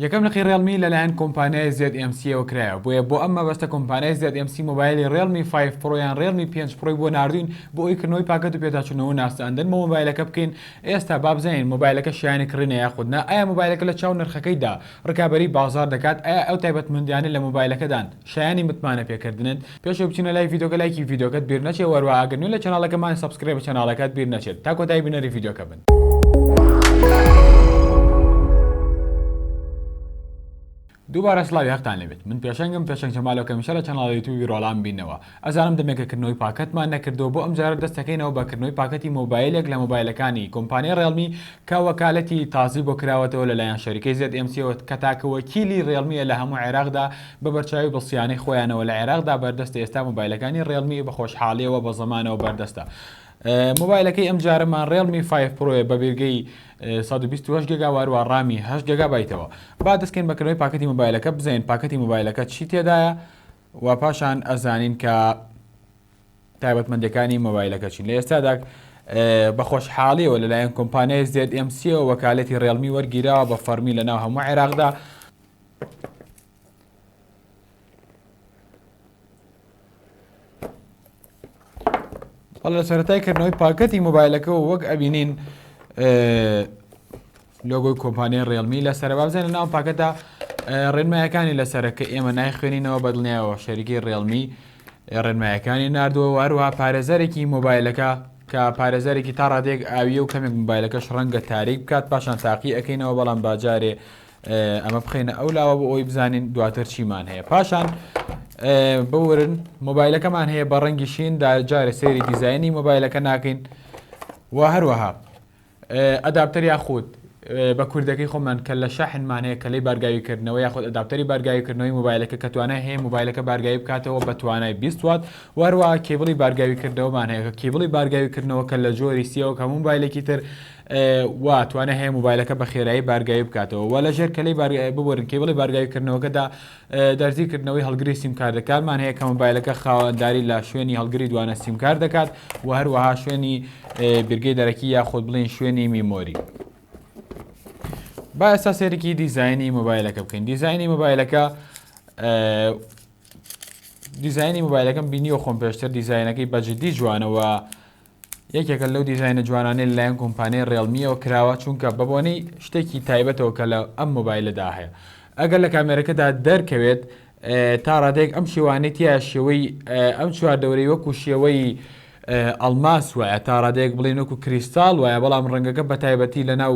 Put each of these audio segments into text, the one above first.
یەکەم لقی ڕێڵمی لەلایەن کۆمپانیای زێد ئێم سییەوە کرایەوە بۆیە بۆ ئەم مەبەستە کۆمپانیای زێد ئێم سی مۆبایلی ڕێڵمی فایڤ پڕۆ یان ڕێڵمی پێنج پڕۆی بۆ ناردووین بۆ ئەوەی کردنەوەی پاکەت و پێداچوونەوە و ناساندن بۆ مۆبایلەکە بکەین ئێستا با بزانین مۆبایلەکە شایەنی کڕینە یاخود نا ئایا مۆبایلەکە لە چاو نرخەکەیدا ڕکابەری بازاڕ دەکات ئایا ئەو تایبەتمەندیانەی لە مۆبایلەکەدان شایەنی متمانەپێکردنن پێش ئەوەی بچینە لای ڤیدۆکە لایکی ڤیدۆکەت بیر نەچێ وەروا ئەگەر نوێ لە چەناڵەکەمان سەبسکرێبە چەناڵەکەت بیر نەچێت تا کۆتایی بینەری ڤیدۆکە بن. دووبارە سڵاوی هەقتان لەبێت من پێشەنگم پێشەنگ جەمالۆکە میشە لە چەناڵی یوتیوبی ڕۆڵام بینەوە ئەزانم دەمێکە کردنەوەی پاکەتمان نەکردووە بۆ ئەمجارە دەستەکەینەوە بە کردنەوەی پاکەتی مۆبایلێک لە مۆبایلەکانی کۆمپانیای ڕێڵمی کە وەکالەتی تازی بۆ کراوەتەوە لەلایەن شەریکەی زێد ئێم سیەوە کە تاکە وەکیلی ڕێڵمییە لە هەموو عێراقدا بە بەرچاوی بڵ سیانەی خۆیانەوە لە عێراقدا بەردەستە ئێستا مۆبایلەکانی ڕێڵمی بە خۆشحاڵیەوە بە زەمانەوە بەردەستە مۆبایلەکەی ئەم جارەمان ڕێڵمی 5 پرۆیە بە بیرگەی 128 گگا واروە ڕامی هەش گگا بایتەوە با دەستکەین بەکردنەوەی پاکەتی مۆبایلەکە بزین پاکەتی مۆبایلەکە چی تێدایە و پاشان ئەزانین کە تایبەتمەندەکانی مۆبایلەکە چین لە ئێستادا بە خۆشحاڵیەوە لەلایەن کۆمپانیای زێت ئەمسیەوە وەکالەتی ڕێڵمی وەرگیراوە بە فەرمی لە ناو هەموو عێراقدا هەڵ لە سەرەتای کردنەوەی پاکەتی مۆبایلەکە و وەک ئەبینین لۆگۆی کۆمپانیای ڕێلمی لە سەربابزانە ناو پاکەتە ڕێنمایەکانی لەسرە کە ئێمە نایخوێنینەوە بەدڵنیایەوە شەریکی ڕێلمی ڕێنمایەکانی نردووە واروها پارێزەرێکی مۆبایلەکە کە پارێزەرێکی تا ڕادێک ئاویە و کەمێک مۆبایلەکەش ڕەنگە تاریک بکات پاشان تاقی ئەەکەینەوە بەڵام باجارێ ئەمە بخەینە ئەو لاوە بۆ ئەوی بزانین دواتر چیمان هەیە پاشان بورن مۆبایلەکەمان هەیە بە ڕەنگی شین دا جارە سێری دیزایانی مۆبایلەکە ناکەین و هەروەها ئەداپتەر یاخود بە کوردەکەی خۆمان کە لە شەحنمان هەیە کە لی بارگاویکردنەوە یاخود ئەداپتەری بارگاویکردنەوەی مۆبایلەکە کە توانای هەیە مۆبایلەکە بارگاوی بکاتەوە بە توانای 20 وات وەروە کێبڵی بارگاویکردنەوەمان هەیە کە کیبڵی بارگاویکردنەوە کە لە جۆری سیەوە کە مۆبایلێکی تر و توانای هەیە مۆبایلەکە بە خێرایی بارگاوی بکاتەوە و لە ژێر کەلەی بارگاوی ببورن کەیبڵی بارگاویکردنەوەکەدا دەرزی کردنەوەی هەڵگری سیمکارت دەکارمان هەیە کە مۆبایلەکە خاوەنداری لە شوێنی هەڵگری دوانە سیمکارت دەکات و هەروەها شوێنی بیرگەی دەرەکی یاخود بڵین شوێنی میمۆری با ئێستا سێرکی دیزایانی مۆبایلەکە بکەین دیزایانی مۆبایلەکە دیزایانی مۆبایلەکەم بینیوە خۆم پێشتر دیزایەنەکەی بەجددی جوانەوە یەکێکە لەو دیزاینە جوانانەی لەلایەن کۆمپانیای ڕێڵمیەوە کراوە چونکە بەبۆنەی شتێکی تایبەتەوە کە لە ئەم مۆبایلەدا هەیە ئەگەر لە کامێرەکەدا دەرکەوێت تا ڕادێک ئەم شێوانەی تیا شێوەی ئەم چوار دەورەی وەکو شێوەی ئەلماس وایە تا ڕادێک بڵێن وەکو کریستال وایە بەڵام ڕەنگەکە بە تایبەتی لە ناو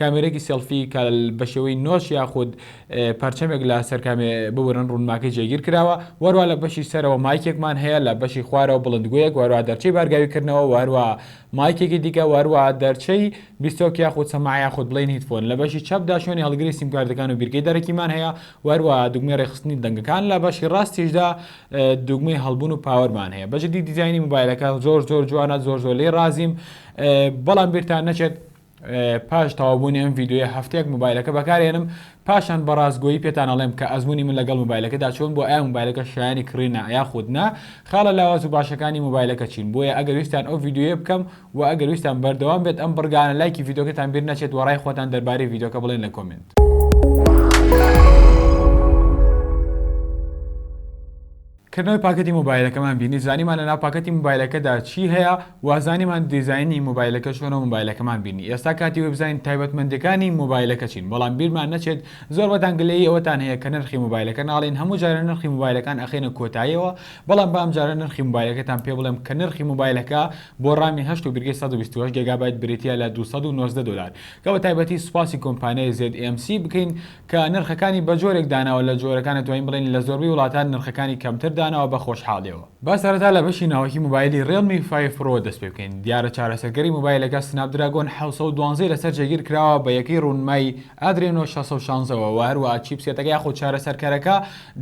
کامێرەێکی سێڵفی کە بە شێوەی نۆش یاخود پەرچەمێک لە سەرکامێ ببرن ڕوونماکەی جێگیر کراوە وەروا لە بەشی سەرەوە مایکێکمان هەیە لە بەشی خوارەوە بڵندگویەک وەروا دەرچەی بارگاوی کردنەوە وەروا مایکێکی دیکە وەروا دەرچەی بیستۆک یاخود سەما یاخود بڵین هیتفۆن لە بەشی چەپدا شوێنی هەڵگری سیمکارتەکان و بیرگەی دەرەکیمان هەیە وەروا دوگمەی ڕێخستنی دەنگەکان لە بەشی ڕاستیشدا دوگمەی هەڵبوون و پاوەرمان هەیە بەجددی دیزانی موبایلەکە زۆر زۆر جوانە زۆر زۆر لی ڕازیم بەڵام بیرتان نەچێت پاش تەواوبوونی ئەم ڤیدیۆیە هەفتەیەک مۆبایلەکە بەکارێنم پاشان بە ڕاستگۆیی پێتان ئەڵێم کە ئەزموونی من لەگەڵ مۆبایلەکەدا چۆن بووە ئایا مۆبایلەکە شایەنی کڕینە یاخود نا خاڵە لاواز و باشەکانی مۆبایلەکە چین بۆیە ئەگەر ویستتان ئەو ڤیدیۆیە بکەم و ئەگەر ویستتان بەردەوام بێت ئەم بڕگانە لایکی ڤیدیۆکەتان بیر نەچێت و ڕای خۆتان دەربارەی ڤیدیۆکە بڵێن لە کۆمێنت. کردنەوەی پاکەتی مۆبایلەکەمان بینی زانیمان لەناو پاکەتی مۆبایلەکەدا چی هەیە وە زانیمان دیزاینی مۆبایلەکە چۆنە مۆبایلەکەمان بینی ئێستا کاتی وەی بزانین تایبەتمەندیەکانی مۆبایلەکە چین بەڵام بیرمان نەچێت زۆر بەتان گلەیی ئەوەتان هەیە کە نرخی مۆبایلەکە ناڵێین هەموو جارە نرخی مۆبایلەکان ئەخەینە کۆتایەوە بەڵام با ئەمجارە نرخی مۆبایلەکەتان پێ بڵێم کە نرخی مۆبایلەکە بۆ ڕامی هەشت و بیرگەی سەد و بیست و هەشت گێگابایت بریتیە لە دوو سەد و نۆزدە دۆلار گەڵە تایبەتی سوپاسی کۆمپانیای زێد ئێم سی بکەین کە نرخەکانی بەجۆرێک داناوە لە جۆرەکان ئەتوانین بڵێین لە زۆربەی وڵاتان نرخەکانی کەمتر داناوە بە خۆشحاڵیەوە. با سەرەتا لە بەشی ناوەکی موبایلی ڕێڵمی فایڤ پرۆوە دەست پێ بکەین دیارە چارەسەرکەری موبایلەکە سناپ دراگۆن حەوت سەد و دوازدە ی لەسەر جێگیر کراوە بە یەکەی ڕوونمای ئادرێنۆ شەش سەد و شازدە وە وە هەروەها چیپسێتەکە یاخود چارەسەرکەرەکە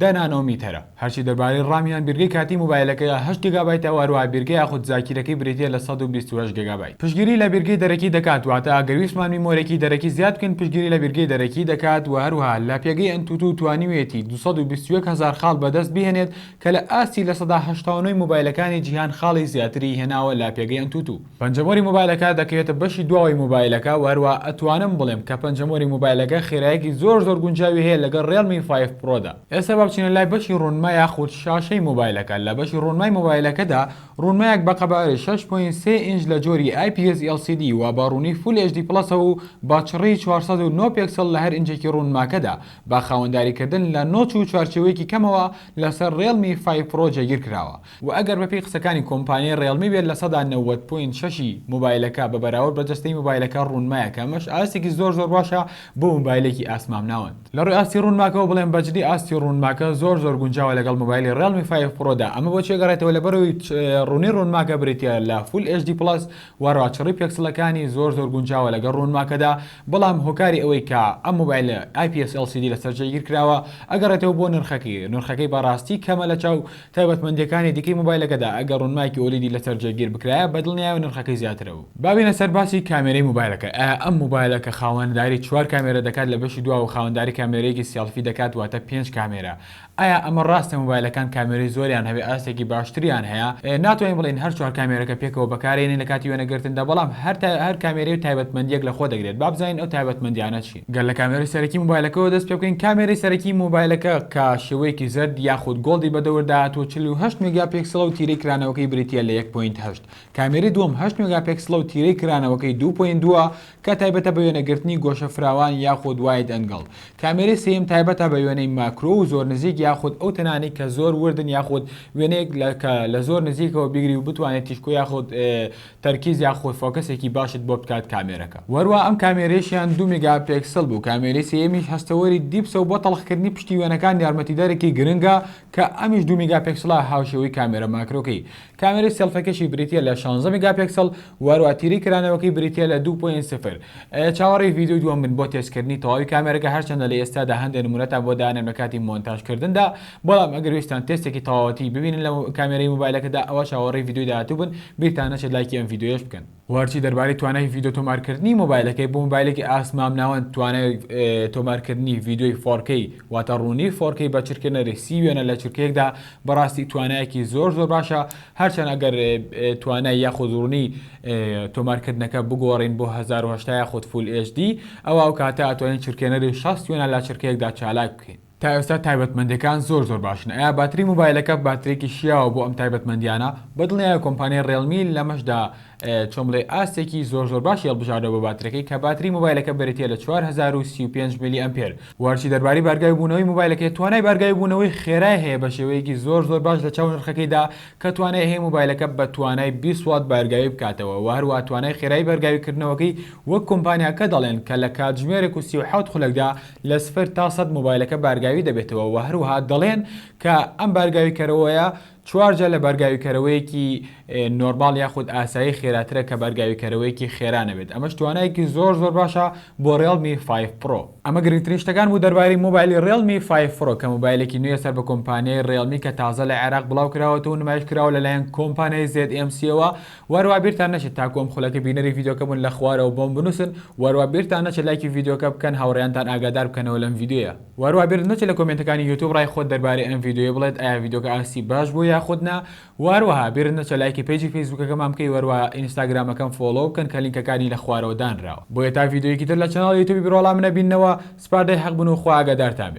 دە نانۆمیتەرە. هەرچی دەربارەی ڕام یان بیرگەی کاتی مۆبایلەکەیە هەشت گێگابایتە و هەروەها بیرگەی یاخود زاکیرەکەی بریتییە لە سەد و بیست و هەشت گێگابایت پشتگیری لە بیرگەی دەرەکی دەکات واتە ئەگەر ویستمان میمۆرێکی دەرەکی زیاد بکەین پشتگیری لە بیرگەی دەرەکی دەکات وە هەروەها لە پێگەی ئەنتوتو توانیویەتی دوو سەد و بیست و یەک هەزار خاڵ بەدەست بهێنێت کە لە ئاستی لە سەدا هەشتا و نۆ ی مۆبایلەکانی جیهان خاڵی زیاتری هێناوە لە پێگەی ئەنتوتو. پەنجەمۆری مۆبایلەکە دەکەوێتە بەشی دواوەی مۆبایلەکە و هەروا ئەتوانم بڵێم کە پەنجەمۆری مۆبایلەکە خێرایەکی زۆر زۆر گونجاوی هەیە لەگەڵ ڕێڵمی فایڤ پڕۆدا. ئێستا با بچینە لای بەشی ڕوونما یاخود شاشەی مۆبایلەکە، لە بەشی ڕوونمای مۆبایلەکەدا ڕوونمایەک بە قەبارەی شەش پۆینت سێ ئینج لە جۆری IPS LCD و بە ڕوونی فول HD پڵەسەوە و بە چڕیی چوار سەد و نۆ پێکسڵ لە هەر ئینجێکی ڕوونماکەدا بە خاوەنداری کردن لە نۆچ و چوارچێوەیەکی کەمەوە لەسەر ڕێڵمی فایڤ پڕۆ جێگیر کراوە وە ئەگەر بەپێی قسەکانی کۆمپانیای ڕێڵمی بێت لە سەدا نەوەد پۆینت شەش ی مۆبایلەکە بە بەراورد بە جەستەی مۆبایلەکە ڕوونمایە کە ئەمەش ئاستێکی زۆر زۆر باشە بۆ مۆبایلێکی ئاست مامناوەند. لە ڕووی ئاستی ڕوونماکەوە بڵێم بەجدی ئاستی ڕوونماکە زۆر زۆر گونجاوە لەگەڵ مۆبایلی ڕێڵمی فایڤ پڕۆ دا ئەمە بۆچی ئەگەڕێتەوە لەبەرئەوەی ڕوونی ڕوونماکە بریتیە لە فول ئێچ دی پڵەس وە ڕاچڕی پێکسڵەکانی زۆر زۆر گونجاوە لەگەڵ ڕوونماکەدا بەڵام هۆکاری ئەوەی کە ئەم مۆبایلە ئای پی ئێس ئێڵ سی دی لەسەر جێگیر کراوە ئەگەڕێتەوە بۆ نرخەکەی نرخەکەی بەڕاستی کەمە لەچاو تایبەتمەندیەکانی دیکەی مۆبایلەکەدا ئەگەر ڕونمایەکی ئۆلیدی لەسەر جێگیر بکرایە بەدڵنیایەوە نرخەکەی زیاترەبوو. با بێینە سەر باسی کامێرەی مۆبایلەکە ئایا ئەم مۆبایلە کە خاوەنداری چوار کامێرە دەکات لە بەشی دواوە خاوەنداری کامێرەیەکی سێڵفی دەکات واتە پێنج کامێرە ئایا ئەمە ڕاستە مۆبایلەکان کامێرەی زۆریان هەبێت ئاستێکی باشتریان هەیە ناتوانین بڵێین هەر چوار کامێرەکە پێکەوە بەکارێنین لە کاتی وێنەگرتندا بەڵام هەر کامێرەی و تایبەتمەندیەک لەخۆ دەگرێت با بزانین ئەو تایبەتمەندیانە چین. گەر لە کامێرەی سەرەکی مۆبایلەکەوە دەست پێبکەین کامێرەی سەرەکی مۆبایلەکە کە شێوەیەکی زەرد یاخود گۆڵدی بەدەوردا هاتووە چل و هەشت مێگاپێکسڵە و تیرەی کرانەوەکەی بریتیە لە یەک پۆینت هەشت کامێرەی دووەم هەشت مێگاپێکسڵە و تیرەی کرانەوەکەی دوو پۆینت دووە کە تایبەتە بە وێنەگرتنی گۆشە فراوان یاخود واید ئەنگڵ کامێرەی سێیەم تایبەتە بە وێنەی ماکرۆ و زۆر نزیک یاخود ئەو تەنانەی کە زۆر وردن یاخود وێنەیەک لە کە لە زۆر نزیکەوە بیگری و بتوانێت تیشکۆ یاخود تەرکیز یا خۆی فۆکەسێکی باشت بۆ بکات کامێرەکە وەروا ئەم کامێرەیشیان دوو میگا پێکسل بوو کامێرەی سێیەمیش هەستەوەری دیپسە و بۆ تەڵخکردنی پشتی وێنەکان یارمەتیدەرێکی گرنگە کە ئەمیش دوو میگا پێکسلە هاوشێوەی کامێرە ماکرۆکەی کامێرەی سێڵفەکەشی بریتیە لە شانزە میگا پێکسل وەروا تیرەی کرانەوەکەی بریتیە لە دوو پۆینت سفر ئەیە چاوەڕێی ڤیدیۆی دووەم بن بۆ تێستکردنی تەواوی کامێرەکە هەرچەندە لە ئێستادا هەندێ نمونەتان بۆ دانێم لە کاتی مۆنتاژکردندا بەڵام ئەگەر ویستتان تێستێکی تەواوەتی ببینن لە کامێرەی مۆبایلەکەدا ئەوا چاوەڕێی ڤیدیۆی داهاتوو بن، بیرتان نەچێت لایکی ئەم ڤیدیۆیەش بکەن. وە هەرچی دەربارەی توانای ڤیدیۆ تۆمارکردنی مۆبایلەکەی بۆ مۆبایلێکی ئاست مامناوەند توانای تۆمارکردنی ڤیدیۆی فۆر کەی واتە ڕوونی فۆر کەی بە چرکەنەری سی وێنە لە چرکەیەکدا بەڕاستی توانایەکی زۆر زۆر باشە هەرچەند ئەگەر توانای یاخود ڕوونی تۆمارکردنەکە بگۆڕین بۆ هەزار و هەشتا یاخود فول ئێچ دی ئەوا ئەو کاتە ئەتوانین چرکەنەری شەست وێنە لە چرکەیەکدا چالاک بکەین. تا ئێستا تایبەتمەندیەکان زۆر زۆر باشن ئایا باتری موبایلەکە باترێکی شیاوە بۆ ئەم تایبەتمەندیانە بەدڵنیایە کۆمپانیای ڕێڵمی لەمەشدا چۆن بڵێ ئاستێکی زۆر زۆر باشی هەڵبژاردە بۆ باترەکەی کە باتری موبایلەکە بریتیە لە 4035 ملی ئەمپێر وەرچی دەرباری بارگای بوونەوەی موبایلەکەی توانای بارگای بوونەوەی خێرای هەیە بە شێوەیەکی زۆر زۆر باش لە چاو نرخەکەیدا کە توانای هەیە موبایلەکە بە توانای 20 وات بارگاوی بکاتەوە وە هەروەها توانای خێرای بارگاوی کردنەوەکەی وەک کۆمپانیاکە دەڵێن کە لە کاتژمێرێک و 37 خولەکدا لە سفر تا سەد مۆبایلەکە بارگاوی دەبێتەوە و هەروەها دەڵێن کە ئەم بارگاویکەرەوەیە چوار جار لە بارگاویکەرەوەیەکی نۆرماڵ یاخود ئاسایی خێراترە کە بارگاویکەرەوەیەکی خێرا نەبێت ئەمەش توانایەکی زۆر زۆر باشە بۆ ڕێڵمی فایڤ پڕۆ. ئەمە گرنگترین شتەکان بوو دەربارەی مۆبایلی ڕێڵمی فایڤ پڕۆ کە مۆبایلێکی نوێیە سەر بە کۆمپانیای ڕێڵمی کە تازە لە عێراق بڵاوکراوەتەوە و نمایشکراوە لەلایەن کۆمپانیای زێد ئێم سییەوە، واروا بیرتان نەچێت تاکو ئەم خولەکە بینەری ڤیدیۆکە بوون لە خوارەوە بۆم بنوسن واروا بیرتان نەچێت لایکی ڤیدیۆکە بکەن هاوڕێیانتان ئاگادار بکەنەوە لەم ڤیدیۆیە واروا بیرت نەچێت لە کۆمێنتەکانی یوتوب ڕای خۆت دەربارەی ئەم ڤیدیۆیە بڵێت ئایا ڤیدیۆکە ئاستی باش بوو یاخود نا وارەها بیرت نەچێت لایکی پەیجی فەیسبوکەکەمان بکەی واروا ئینستاگرامەکەم فۆڵۆو بکەن کە لینکەکانی لە خوارەوە دانراوە بۆیە تا ڤیدیۆیەکی تر لە چەناڵی یوتوبی بروالام نەبیننەوە سپاردەی حەق بن و خوا ئاگادارتان بێت.